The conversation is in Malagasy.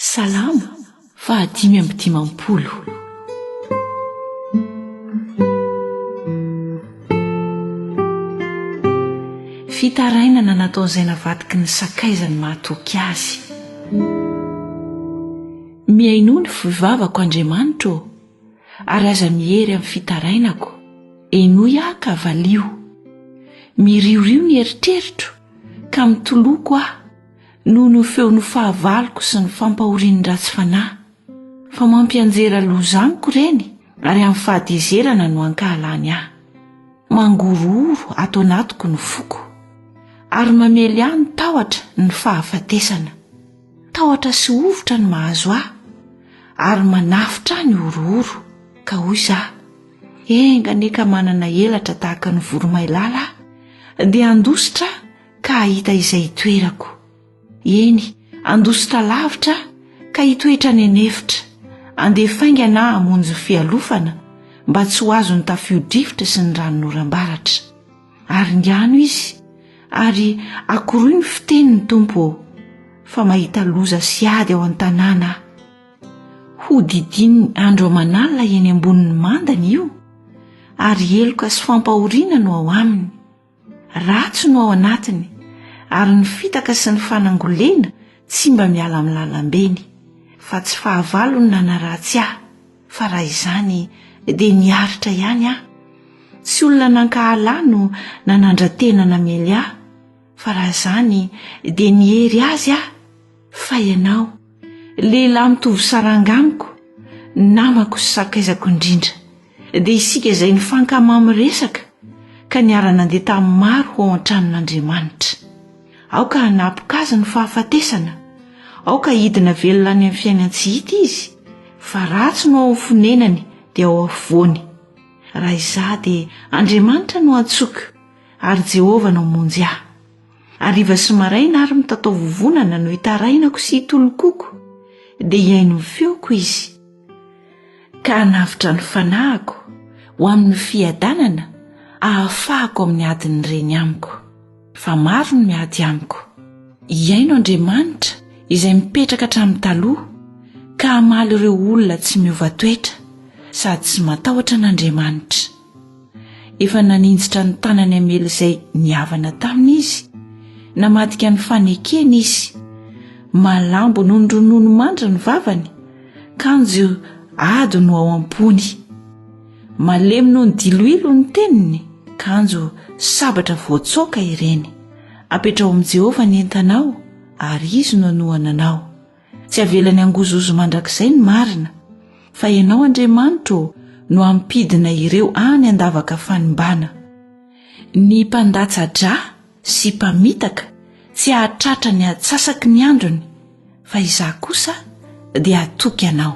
Salamo fahadimy amby dimampolo. Fitarainana nataon'izay navadiky ny sakaizany mahatoky azy. Mihainoa ny foivavako Andriamanitra ô, ary aza miery amin'ny fitarainako, henoy aho ka valio. Miriorio ny eritreritro, ka mitoloko aho. noho ny feon'ny fahavaloko sy ny fampahorian'ny ratsy fanahy, fa mampianjera loza amiko ireny ary amin'ny fahatezerana no ankahalany ahy. Mangorohoro ato anatiko ny foko, ary mamely ahy ny tahotra ny fahafatesana. Tahotra sy hovitra ny mahazo ahy, ary manafotra ahy ny horohoro, ka hoy za, Enga anie ka manana elatra tahaka ny voromailala aho, dia handositra aho ka hahita izay hitoerako. Eny, handositra lavitra aho ka hitoetra any an'efitra, handeha faingana aho hamonjy ny fialofana mba tsy ho azon'ny tafio-drivotra sy ny ranon'oram-baratra. Aringano izy ary akoroy ny fiteny ny Tompo ô, fa mahita loza sy ady ao an-tanàna aho. Hodidininy andro aman'alina eny ambonin'ny mandany io, ary heloka sy fampahoriana no ao aminy. Ratsy no ao anatiny, ary ny fitaka sy ny fanangolena tsy mba miala amin'ny lalambeny. Fa tsy fahavalo no nanaratsy ahy, fa raha izany dia niaritra ihany aho. Tsy olona nankahala ahy no nanandra-tena namely ahy, fa raha izany dia niery azy aho. Fa ianao, lehilahy mitovy saranga amiko, namako sy sakaizako indrindra, dia isika izay nifankama amin'ny resaka ka niara-nandeha tamin'ny maro ho ao an-tranon'Andriamanitra. Aoka hanapoka azy ny fahafatesana, aoka hidina velona any amin'ny fiainan-tsy hita izy, fa ratsy no ao amin'ny fonenany dia ao afovoany. Raha izaho dia Andriamanitra no antsoiko, ary Jehovah no hamonjy ahy. Hariva sy maraina ary mitataovovonana no itarainako sy itolokoko, dia hihaino ny feoko izy, ka hanavotra ny fanahiko ho amin'ny fiadanana ahafahako amin'ny adin'ny reny amiko. Fa maro ny miady amiko. Hihaino Andriamanitra izay mipetraka hatramin'ny taloha, ka hamaly ireo olona tsy miova toetra sady tsy matahotra an'Andriamanitra. Efa naninjitra ny tanany hamely izay nihavana taminy izy, namadika ny fanekeny izy. Malambo noho ny ronono mandry ny vavany, kanjo ady no ao am-pony. Malemy noho ny diloilo ny teniny, kanjo sabatra voatsoaka ireny. Apetraho amin'i Jehovah ny entanao, ary izy no hanohana anao. Tsy avelany hangozohozo mandrakizay ny marina, fa Ianao, Andriamanitro ô, no hampidina ireo any an-davaka fanimbana. Ny mpandatsa-dra sy mpamitaka tsy hahatratra ny atsasaky ny androny, fa izaho kosa dia hatoky Anao.